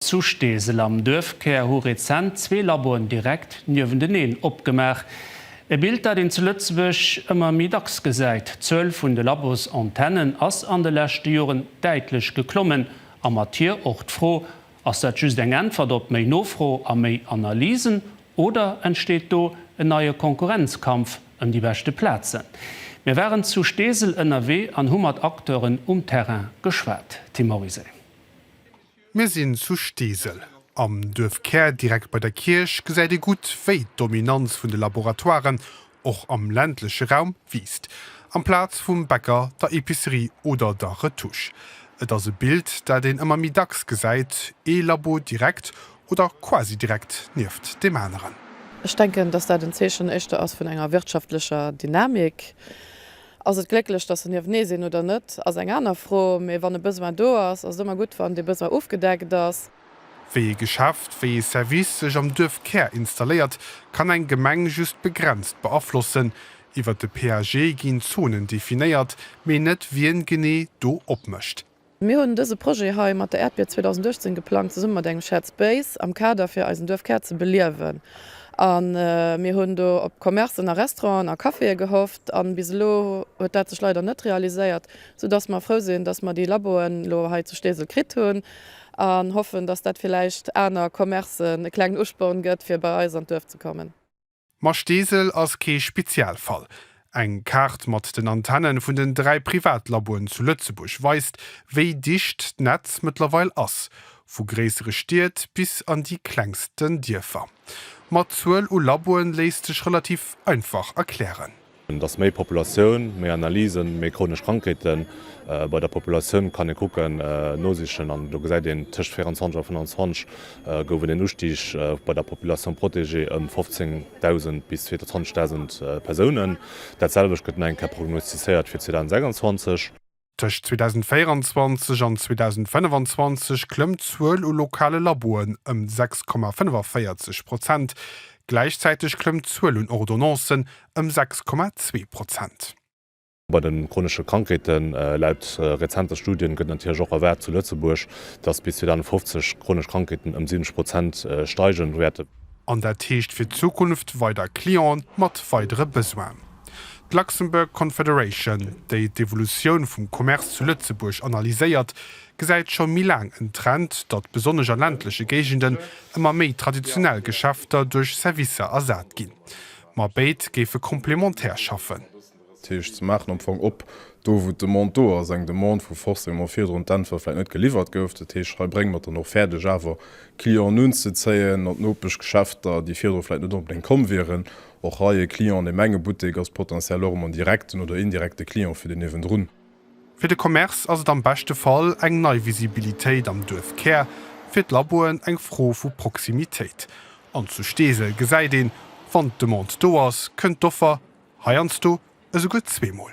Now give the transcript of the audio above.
Zu Steesel am Duerfkär hu rezent zwee Laboen direkt niewenteneen opgemaach. E Bild, dat een zu Lëtzebuerg ëmmer méi dacks gesäit. D'Zuel vun de Labosantennen ass an de leschte Joren däitlech geklommen a mat hir och d'Fro, Ass dat just eng Äntwert op méi Nofro a méi Analysen oder entsteet do en neie Konkurrenzkampf ëm déi beschte Plazen? Mir waren zu Steesel ënnerwee an hu mat Acteuren um Terrain geschwat. Tim Morizet. Mir sinn zu Steesel. Am Duerfkär, direkt bei der Kierch, gesäit ee gutt, wéi d'Dominanz vun de Laboratoiren, och am ländleche Raum, wiisst. Amplaz vum Bäcker, der Epicerie oder der Retouche. Et ass e Bild, dat een ëmmer méi dacks gesäit, ee Labo direkt oder quasi direkt nieft deem aneren. Ech denken, dass dat en Zeechen éischter ass vun enger wirtschaftlecher Dynamik. Ass et glécklech, datt se niewtnee sinn oder net, ass eng aner Fro, mee wann e Besoin do ass, ass et ëmmer gutt, wann dee Besoin ofgedeckt ass. Wéi ee Geschäft, wéi ee Service sech am Duerfkär installéiert, kann eng Gemeng just begrenzt beaflossen. Iwwer de PAG ginn Zonen definéiert, mee net wien genee do opmécht. Mir hunn dëse Projet hei mat der Äerdbier 2018 geplangt, zesumme mat engem Shared Space am Kader fir eisen Duerfkär ze beliewen. A mir hunn do op Commercen a Restauranten a Caféë gehofft, a bis elo huet dat sech leider net realiséiert, sou dass mer frou sinn, dass mer déi Laboen elo hei zu Steesel kritt hunn, a hoffen, dass dat villäicht aner Commercen e klengen Usporn gëtt, fir bei eis an d'Duerf ze kommen. Ma Steesel ass kee Spezialfall. Eng Kaart mat den Antennen vun den dräi Privatlaboen zu Lëtzebuerg weist, wéi dicht d'Netz mëttlerweil ass, vu gréissere Stied bis an déi klengsten Dierfer. Ma d'Zuel u Laboen léisst sech relativ einfach erklären. Dass méi Populatioun, méi Analysen, méi chronesch Krankheeten bei der Populatioun kann ee kucken, nosichen an do gesäit een, tëscht 24 a 25 gouf et een Ustig bei der Population protégée ëm 15.000 bis 22.000 Persounen. Dat selwecht gëtt nach eng Kéier prognostizéiert fir 2026. Tëscht 2024 an 2025 klëmmt d'Zuel u lokale Laboen ëm 6,45 Prozent, gläichzäiteg klëmmt d'Zuel un Ordonnancen ëm 6,2 Prozent. Bei de chronesche Krankheeten, Laut rezente Studien gëtt natierlech och erwaart zu Lëtzebuerg, datt bis 2050 d'chronesch Krankheeten ëm 70 Prozent steige wäerten. An dat heescht fir d'Zukunft weider Clienten mat weidere Besoinen. D'Luxembourg Confederation, déi d'Evolutioun vum Commerce zu Lëtzebuerg analyséiert, gesäit scho méi laang en Trend, datt besonnesch a ländleche Géigenden ëmmer méi traditionell Geschäfter duerch Servicer ersat ginn. Ma béid géife komplementär schaffen. Dat heescht, se maachen am Fong op do, wou d'Demande do ass, eng Demande, wou forcément virdrun d'Äntwert vläicht net geliwwert gouf. Dat heescht, hei brénge mer et dann och fäerdeg, awer Clienten unzezéien an d'Nopeschgeschäfter, déi virdru vläicht net onbedéngt komm wieren, Och hei e Client an deem enge Buttek ass potentiell och emol en direkten oder indirekte Client fir deen niewendrun. Fir de Commerce ass et am beschte Fall eng nei Visibilitéit am Duerfkär, fir d'Laboen eng Fro vu Proximitéit. An zu Steesel gesäit een, wann d'Demande do ass, kënnt d'Offer heiansdo esouguer zweemol.